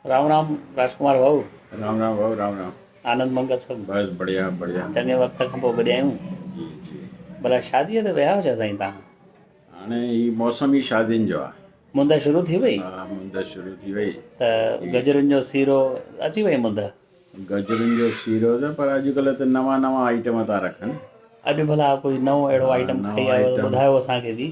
رام رام راجڪمار ڀائو رام رام ڀائو رام رام آنند منگل سڀ بس بڙھيا بڙھيا چڱي وقت کان پوء گڏيا آھيون جي جي بلا شادي تي ويا ھجا سائين تان ھاڻي ھي موسم ھي شادين جو آ مند شروع ٿي وئي ها مند شروع ٿي وئي ته گجرن جو سيرو اچي وئي مند گجرن جو سيرو ته پر اڄڪلھ ته نوان نوان آئٽم ٿا رکن اڄ ڀلا ڪوئي نئون اهڙو آئٽم کائي آيو ته ٻڌايو اسان کي به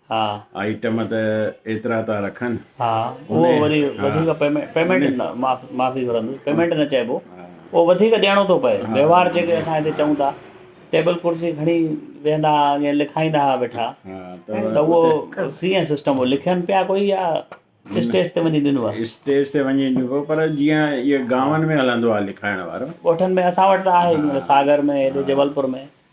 ها. آئٽم ته ايترا ٿا رکن. ها اهو وري وڌيڪ پيمنٽ پيمنٽ نه معافي گهرندس پيمنٽ نه چئبو اهو وڌيڪ ڏيڻو ٿو پئي وهنوار جيڪي اسان هتي چئون ٿا ٽيبل ڪرسي کڻي ويهندا ائين لکائيندا هئا ويٺا ته اهو ڪيئن سسٽم هو لکين پيا ڪوئي يا اسٽيج تي وڃي ڏنو آهي اسٽيج تي وڃي ڏبو پر جيئن اهي گاون ۾ هلندو آهي لکائڻ وارو ڳوٺن ۾ اسان وٽ ته آهي ساگر ۾ هيڏي جبلپور ۾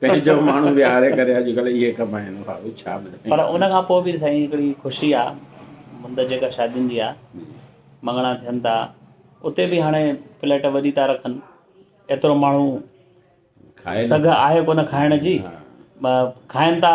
پنهنجو ماڻهو ويهاري ڪري اڄڪلهه اهي ڪم آهن ڀائو ڇا ٻڌايون. پر ان کان پوء به سائين هڪڙي خوشي آ مند جيڪا شادين جي آ مڱڻا ٿين ٿا اتي به هاڻي پليٽ وڏي ٿا رکن ايترو ماڻهو سگهه آهي ڪونه کائڻ جي کائين ٿا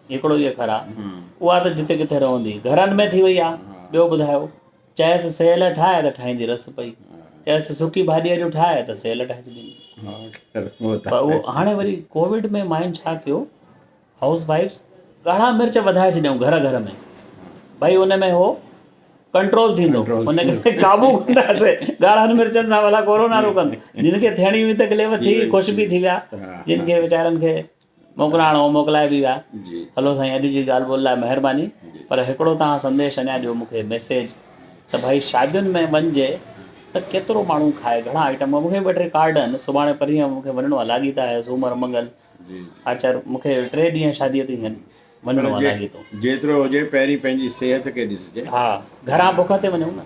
هڪڙو ئي اکر آ اها ته جتي ڪٿي رهندي گهرن ۾ ٿي وئي آ ٻيو ٻڌايو چيس سيل ٺاهه ته ٺاهيندي رس پئي چيس سڪي ڀاڄي اڄ ٺاهه ته سيل ٺاهي ڇڏيندي پر اهو هاڻي وري ڪووڊ ۾ ماين ڇا ڪيو هائوس وائفس ڳاڙها مرچ وڌائي ڇڏيائون گهر گهر ۾ ڀئي ان ۾ هو ڪنٽرول ٿيندو ان کي قابو ڪنداسي ڳاڙهن مرچن سان ڀلا ڪورونا روڪن جن کي ٿيڻي هئي تڪليف ٿي خوش به ٿي ويا جن کي ويچارن کي موڪلائڻ اهو موڪلائي به ويا. هلو سائين اڄ جي ڳالهه ٻولهه لاء مهرباني پر هڪڙو توهان سنديش اڃا ڏيو مون کي ميسيج ته ڀائي شادين ۾ وڃجي ته ڪيترو ماڻهو کائي گهڻا آئٽم مون کي ٻه ٽي ڪارڊ آهن سڀاڻي پرينهن مون کي وڃڻو آهي لاڳيتا آهي سومر منگل آچر مون کي ٽي ڏينهن شادي تي هين وڃڻو آهي لاڳيتو جيترو هجي پهرين پنهنجي صحت کي ڏسجي ها گهران بک تي وڃون نه.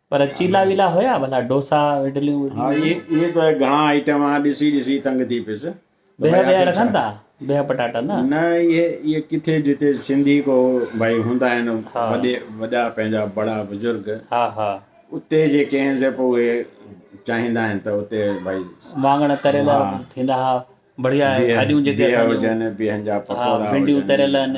پر چيلا ويلا هيا ڀلا ڊوسا اڊليون وڊليون. ها اهي اهي ته گهڻا آئٽم آ ڏسي ڏسي تنگ ٿي پيس. ته بيهه ڀائي ويهه آخر رکن ڇا. ٿا بيهه پٽاٽا نه. نه اهي اهي ڪٿي جتي سنڌي ڪو ڀائي هوندا آهن ها. وڏي وڏا پنهنجا بڙا بزرگ ها ها. اتي جي ڪنهن زه پو اهي چاهيندا آهن ته اتي ڀائي واڱڻ تريل ها. ٿيندا ها بڙيا بيهه بيهه هجن بيهه بيهن جا پڪوڙا هجن ڀنڊيون تريل ها. آهن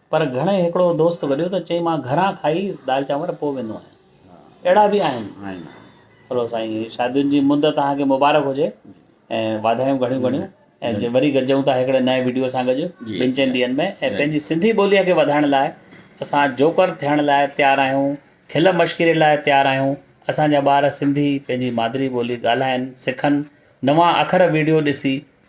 پر گهڻي هڪڙو دوست گڏيو ته چئي مان گهران کائي دال چانور پوء ويندو آهيان. اهڙا به آهن. هلو سائين شادين جي مد توهان کي مبارڪ هجي ۽ واڌايون گهڻيون گهڻيون ۽ وري گڏجون ٿا هڪڙي نئين وڊيو سان گڏ ٻن چئن ڏينهن ۾ ۽ پنهنجي سنڌي ٻولي کي وڌائڻ لاء اسان جوڪر ٿيڻ لاء تيار آهيون کل مشڪري لاء تيار آهيون اسان جا ٻار سنڌي پنهنجي مادري ٻولي ڳالهائن سکن نوان اکر وڊيو ڏسي